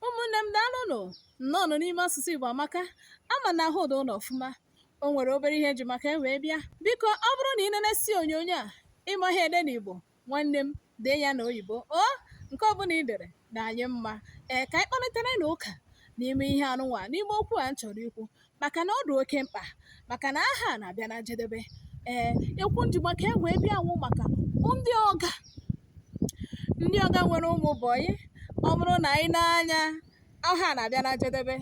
ụmụnne m daalụnụ nnọọnụ n'ime asụsụ Igbo amaka ama m na ahụ dụ unu ọfụma o nwere obere ihe eji maka e wee bịa biko ọ bụrụ na ị nenesi onyonyo a ịmaghị ede na Igbo nwanne m dee ya na oyibo o nke ọbụla ị dere na anyị mma ee ka anyị kparịtara na ụka n'ime ihe anụnwa n'ime okwu a m chọrọ ikwu maka na ọ dị oke mkpa maka na ahọ a na-abịa na njedebe ee okwu m ji maka e wee bịa wụ maka ndị ọga ndị ọga nwere ụmụ bọyị ọ bụrụ na ị nee anya ahọ a na-abịa na njedebe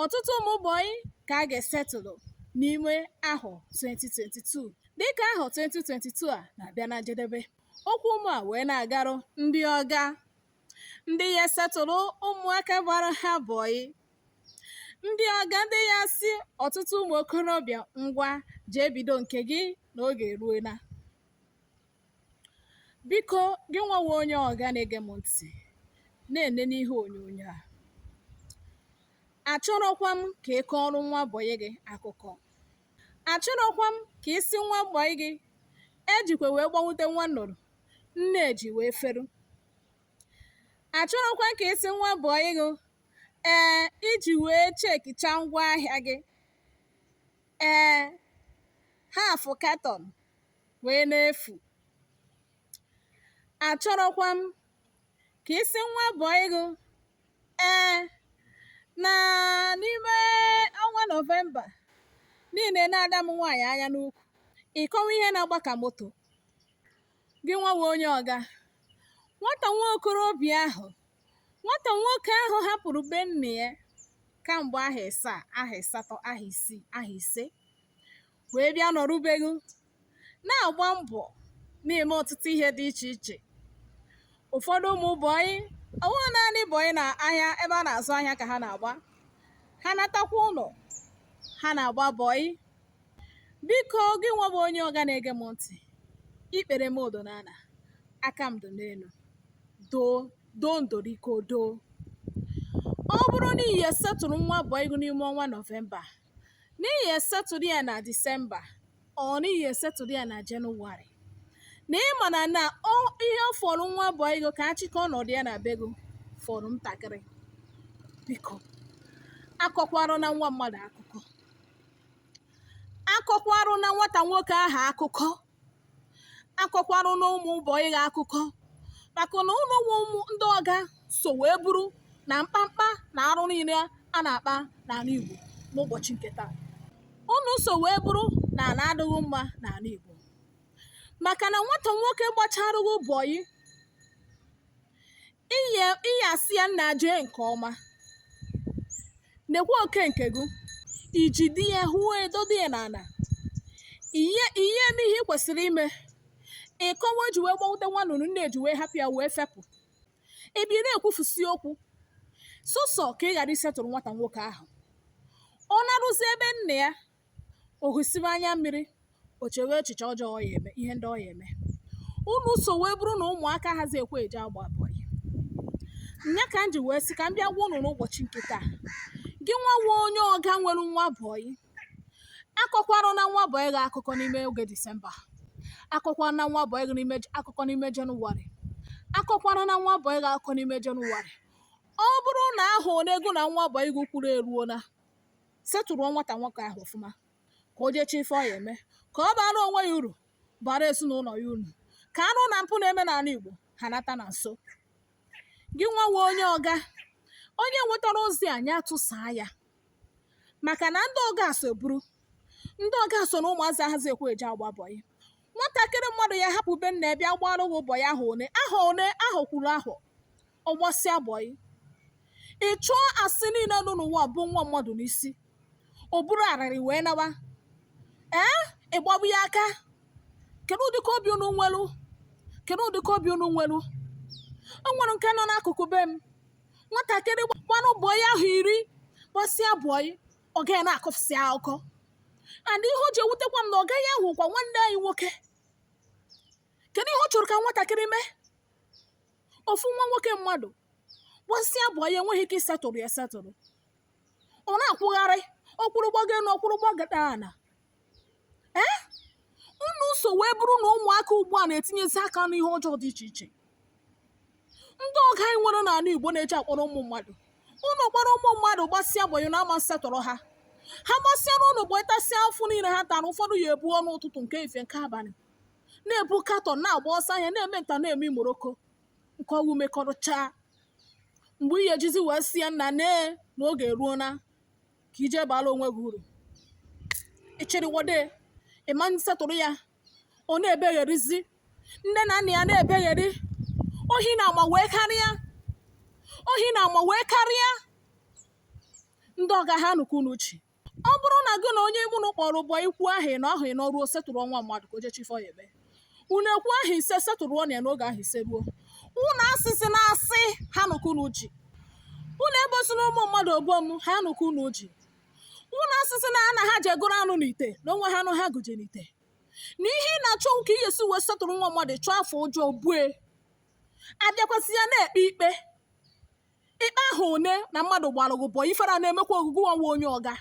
ọtụtụ ụmụ bọyị ka a ga-esetụlụ n'ime ahọ 2022 dịka ahọ 2022 a na-abịa na njedebe okwu m a wee na-agarụ ndị ọga ndị ya-esetụlụ ụmụaka gbara ha bọyị ndị ọga ndị ya-asị ọtụtụ ụmụ okorobịa ngwa jee bido nke gị na oge eruola biko gị nwawa onye ọga na-ege m ntị na-enene ihe onyonyo a achọrọkwa m ka ị kọọrọ nwa bọyị gị akụkọ achọrọkwa m ka ị sị nwa bọyị gị ejikwe wee gbanwute nwa nnụrụ nne ji wee feru achọrọkwa m ka ị sị nwa bọyị gị ee i ji wee chekicha ngwa ahịa gị ee half carton wee na-efu achọrọkwa m ka ị sị nwa bọyị gị ee na n'ime ọnwa nọvemba niile na ada m nwaanyị anya n'ukwu ịkọwa ihe na-agba ka moto gị nwawa onye ọga nwata nwa okorobịa ahụ nwata nwoke ahụ hapụrụ be nna ya kamgbe ahọ ịsaa ahọ ịsatọ ahọ isii ahọ ise wee bịa nọrụ be gị na-agba mbọ na-eme ọtụtụ ihe dị iche iche ụfọdụ ụmụ bọyị ọ wụghị naanị bọyị na ahịa ebe a na-azụ ahịa ka ha na-agba ha natakwa ụlọ ha na-agba bọyị biko gị nwa bụ onye ọga na-ege m ntị ikpere m dụ n'ala aka m dụ n'elu doo doo ndoriko doo ọ bụrụ na ị ya-esetụlụ nwa bọyị gị n'ime ọnwa nọvemba na ị ya-esetụlụ ya na disemba or na ị ya-esetụlụ ya na jenụwarị na ịma na na ọ- ihe fọrọ nwa bọyị gị ka ọ chịkọọ ọnọdụ ya na be gị fọrọ ntakịrị biko akọkwarana nwa mmadụ akụkọ akọkwarụna nwata nwoke ahụ akụkọ akọkwarụna ụmụ bọyị gị akụkọ maka na unu nwa wụ ndị ọga so wee bụrụ na mkpamkpa na arụ niile a na-akpa n'ala Igbo n'ụbọchị nke taa unu so wee bụrụ na ala adịghị mma n'ala Igbo maka na nwata nwoke gbacharụ gị bọyị ị ya asị ya nna jee nke ọma nekwa oke nke gị iji di ya hụ edodo ya n'ala ị ya eme ihe ị kwesịrị ime ị kọwa o ji wee gbawute nwa nnụnụ nne ya ji wee hapụ ya wee fepụ ebe ị na-ekwufusi okwu sọsọ ka ị ghara isetụrụ nwata nwoke ahụ ọ naruzie be nna ya o hụsiwe anya mmiri o chewe echiche ọjọọ ọ ya eme ihe ndị ọ ya eme unu so wee bụrụ na ụmụaka ahazi ekwe eje agba bọyị nya ka m ji wee sị ka m bịa gwa unu n'ụbọchị nke taa gị nwa nwa onye ọga nwere nwa bọyị akọkwarana nwa bọyị gị akụkọ n'ime oge disemba akọkwarana nwa bọyị gị akụkọ n'ime jenụwarị akọkwarana nwa bọyị gị akụkọ n'ime jenụwarị ọ bụrụ na ahọ one gị na nwa bọyị gị kwuru eruola setụrụ nwata nwoke ahụ ọfụma ka o je chọọ ife ọ ya eme ka ọ bara onwe ya uru bara ezinụlọ ya uru ka arụ na mpụ na-eme n'ala Igbo ha nata na nso gị nwawe onye ọga onye nwetara ozi a nya tụsaa ya maka na ndị ọga so buru ndị ọga so na ụmụazị ahazi ekwe eje agba bọyị nwatakịrị mmadụ ya hapụ be nna ya bịa gbara gị bọyị ahọ one ahọ one ahụ kwuru ahụ ọ gbasịa bọyị ị chọọ asị niile nọ n'ụwa bo nwa mmadụ n'isi o buru arịrị wee nawa ee ị gbagbu ya aka kedu ụdịka obi unu nwelu kedu ụdịka obi unu nwelu o nwere nke nọ n'akụkụ be m nwatakịrị gbarụ bọyị ahọ iri gbasịa bọyị ọga ya na-akọfụsị akụkọ and ihe o ji ewutekwa m na ọga ya wụkwa nwanne anyị nwoke kedu ihe ọ chọrọ ka nwatakịrị mee ofu nwa nwoke mmadụ gbasịa bọyị enweghị ike isetụrụ ya setụrụ ọ na-akwụgharị ọ kwụrụ gbago elu ọ kwụrụ gbagada ala ee unu so wee bụrụ na ụmụaka ugbu a na-etinyezi aka n'ihe ọjọọ dị iche iche ndị ọga anyị nwere n'ala igbo na-eje akpọrọ ụmụ mmadụ unu kpọrọ ụmụ mmadụ gbasịa bọyị na ama setụrụ ha ha gbasịara unu bọyị tasịa afụfụ niile ha tara ụfọdụ ya ebuo ọnụ ụtụtụ nke ife nke abalị na-ebu katọn na-agba ọsọ ahịa na-eme nta na-eme imoroko nke ọgwụ mekọrọchaa mgbe ị ya ejizi wee sị ya nna nee na oge eruona ka i je baala onwe gị uru ịchịrịwode ị ma setụrụ ya ọ na-ebegherizi nne na nna ya na-ebegheri ohi na ama wee karịa ohi na ama wee karịa ndị ọga ha nụkwu n'uche ọ bụrụ na gị na onye mụ na kpọrọ bọyị kwuo ahọ ịnọ ahọ ịnọ ruo setụrụ nwa mmadụ ka o je chọ ife ọ ya eme unu ekwuo ahọ ise setụrụnụ ya n'oge ahọ ise ruo unu asịsịna asị ha nụkụ unu ji unu ebosina ụmụ mmadụ ogbo m ha nụkụ unu ji unu asịsị na ana ha je gụrụ anụ n'ite na onwe ha anụ ha gụje n'ite na ihe ị na-achọ ka ị ga-esi wee setụrụ nwa mmadụ chọọ afọ ọjọọ bue abịakwasị ya na-ekpe ikpe ikpe ahụ one na mmadụ gbara gị bọyị ifere a na-emekwa gị gị nwawa onye ọga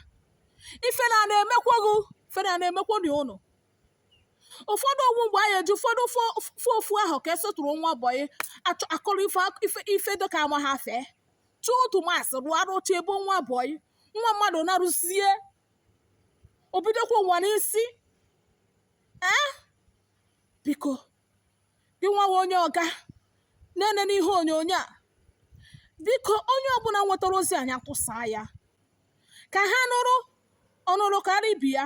ifere a na-emekwa gị ifere a na-emekwa unu ụfọdụ ọ bụ mgbe anyị eji ọ fọdụ ofu ahọ ka esetụrụ nwa bọyị akọrọ ife dịka ama ha fee chụọ otu masị rụọ arụcha ebe nwa bọyị nwa mmadụ naruzie o bidokwa ụwa n'isi ee biko gị nwawa onye ọga na-ene n'ihe onyonyo a biko onye ọbụla nwetara ozi anyị atụsaa ya ka ha nụrụ ọ nụrụ kara ibe ya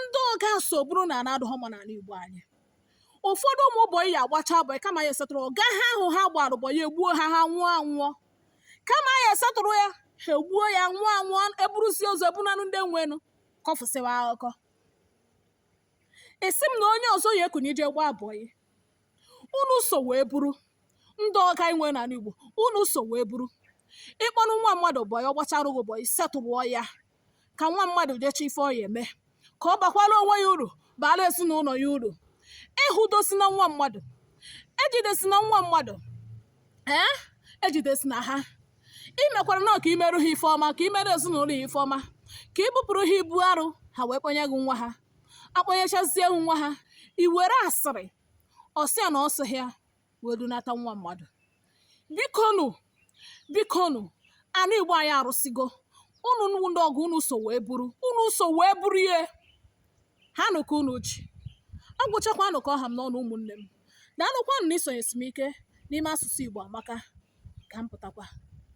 ndị ọga so bụrụ na ana adụghọ mma n'ana igbo anyị ụfọdụ ụmụ bọyị ya agbacha bọyị kama ya esetụrụ ọga ha ahụ ha gbara bọyị egbuo ha ha nwụọ anwụọ kama ya esetụrụ ya ha egbuo ya nwụọ anwụọ eburuzie ozu bunanụ ndị nwenụ kọfụsịwa akụkọ ị sị m na onye ọzọ ya ekwenye ije gbaa bọyị unu so wee bụrụ ndị ọga anyị nwe n'ala igbo unu so wee bụrụ ị kpọnụ nwa mmadụ bọyị ọ gbachara gị bọyị setụrụ ya ka nwa mmadụ je chọ ife ọ ya eme ka ọ bakwara onwe ya uru baara ezinụlọ ya uru ịhụdosina nwa mmadụ ejidesina nwa mmadụ ee ejidesina ha i mekwara na ka i meru ha ife ọma ka i mere ezinụlọ ya ife ọma ka i bupụrụ ha ibu arọ ha wee kpọnye gị nwa ha akpọnyechazie gị nwa ha i were asịrị ọ sị ya na ọ sị ya wee dunata nwa mmadụ bikonu bikonu ana igbo anyị arụsịgo unu ndị ọga unu so wee bụrụ unu so wee bụrụ ihe ha nụ ka unu ji ọ gwụchakwanụ ka ọ ha m n'ọnụ ụmụnne m daalụkwanụ na isonyesi m ike n'ime asụsụ Igbo amaka ka m pụtakwa